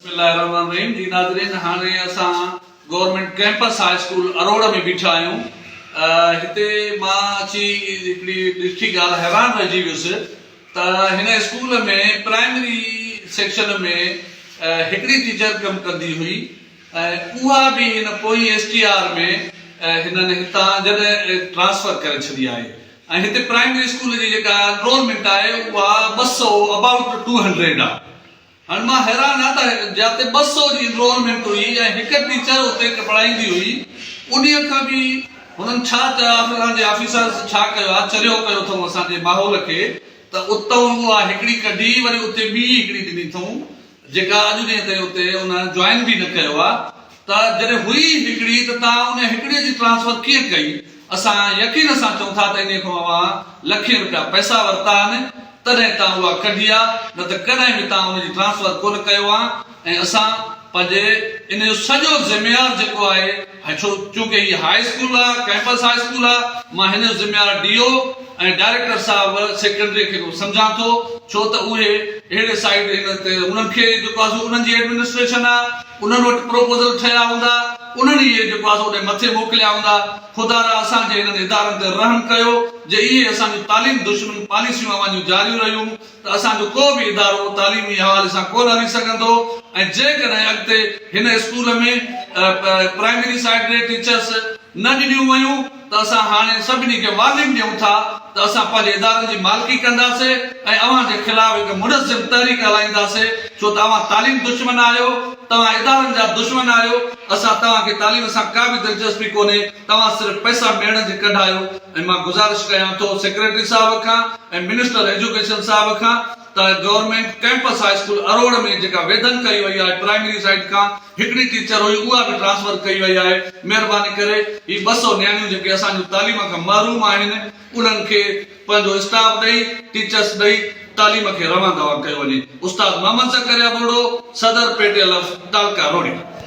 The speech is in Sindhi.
بسم الله الرحمٰن الرحيم جي ناظرين هاڻي اسان government campus high school Aror ۾ بيٺا آهيون هتي مان اچي هڪڙي ڏٺي ڳالهه حيران رهجي ويس ته هن اسڪول ۾ پرائمري سيڪشن ۾ هڪڙي ٽيچر ڪم ڪندي هئي ۽ اها به هن پوئين ايس ٽي آر ۾ هنن هتان جڏهن ٽرانسفر ڪري ڇڏي آهي ۽ هتي پرائمري اسڪول جي جيڪا انرولمينٽ آهي اها ٻه سؤ ابائوٽ ٽو هنڊريڊ آهي. هاڻ مان حيران آهيان ته جاتي ٻه سؤ جي انرولمينٽ هئي ۽ هڪ ٽيچر اتي پڙهائيندي هئي انهيء کان به هنن ڇا چيو آهي اسان جي آفيسرز ڇا ڪيو آهي چريو ڪيو اٿئون اسان جي ماحول کي ته اتئون اها هڪڙي ڪڍي وري اتي ٻي هڪڙي ڏني اٿئون جيڪا اڄ ڏينهن تائين اتي ان جوائن به نه ڪيو آهي ته جڏهن هئي ئي هڪڙي ته توهان انهيء هڪڙيء جي ٽرانسفر ڪيئن ڪئي؟ اسان يقين سان چئون ٿا ته انهيء کان اوهان لکين رپيا پئسا ورتا آهن، تڏهن توهان اها ڪڍي آ، نه ته ڪڏهن به توهان ان جي ٽرانسفر ڪونه ڪيو آ ۽ اسان پنهنجي ان جو سڄو ذميار جيڪو آهي، ڇو چونڪه هي هاء اسڪول آ، ڪئمپس هاء اسڪول آ، مان هن جو ذميار ڊي او ۽ ڊائريڪٽر صاحب سيڪريٽريء کي به سمجهان ٿو، ڇو ته اهي اهڙي سائيڊ انهن کي جيڪو آ سو انهن جي ايڊمنسٽريشن آ. انهن وٽ پروپوزل ٺهيا هوندا، انهن ئي اهي جواز اوڏي مٿي موڪليا هوندا. خدا را اسان جي انهن ادارن تي رحم ڪيو، جي اهي اسان جون تعليم دشمن پاليسيون اوهان جون جاريون رهيون ته اسان جو ڪو به ادارو تعليمي حوالي سان ڪونه هلي سگهندو ۽ جيڪڏهن اڳتي هن اسڪول ۾ پرائمري سائيڊ ريٽ ٽيچرس نه ڏنيون ويون ته اسان هاڻي سڀني کي وارننگ ڏيون ٿا ته اسان پنهنجي ادارن جي مالڪي ڪنداسي ۽ اوهان جي خلاف هڪ منظم تحريڪ هلائينداسي ڇو ته اوهان تعليم دشمن آهيو توهان ادارن جا دشمن آهيو اسان توهان کي تعليم سان ڪا به دلچسپي ڪونهي توهان صرف پئسا ميڙڻ جي ڪڍ آهيو ۽ مان گذارش ڪيان ٿو سيڪريٽري صاحب کان ۽ منسٽر ايجوڪيشن صاحب کان ته government campus high school Aror ۾ جيڪا ويڌن ڪئي وئي آهي پرائمري سائيڊ کان هڪڙي ٽيچر هئي اها به ٽرانسفر ڪئي وئي آهي مهرباني ڪري هي ٻه سؤ نياڻيون جيڪي اسان جون تعليم کان محروم آهن انهن کي پنهنجو اسٽاف ڏئي ٽيچرس ڏئي تعليم کي روان دوان ڪيو وڃي استاد محمد زڪريا ٻوڙو صدر پيٽيل اف ٽالڪا روهڙي.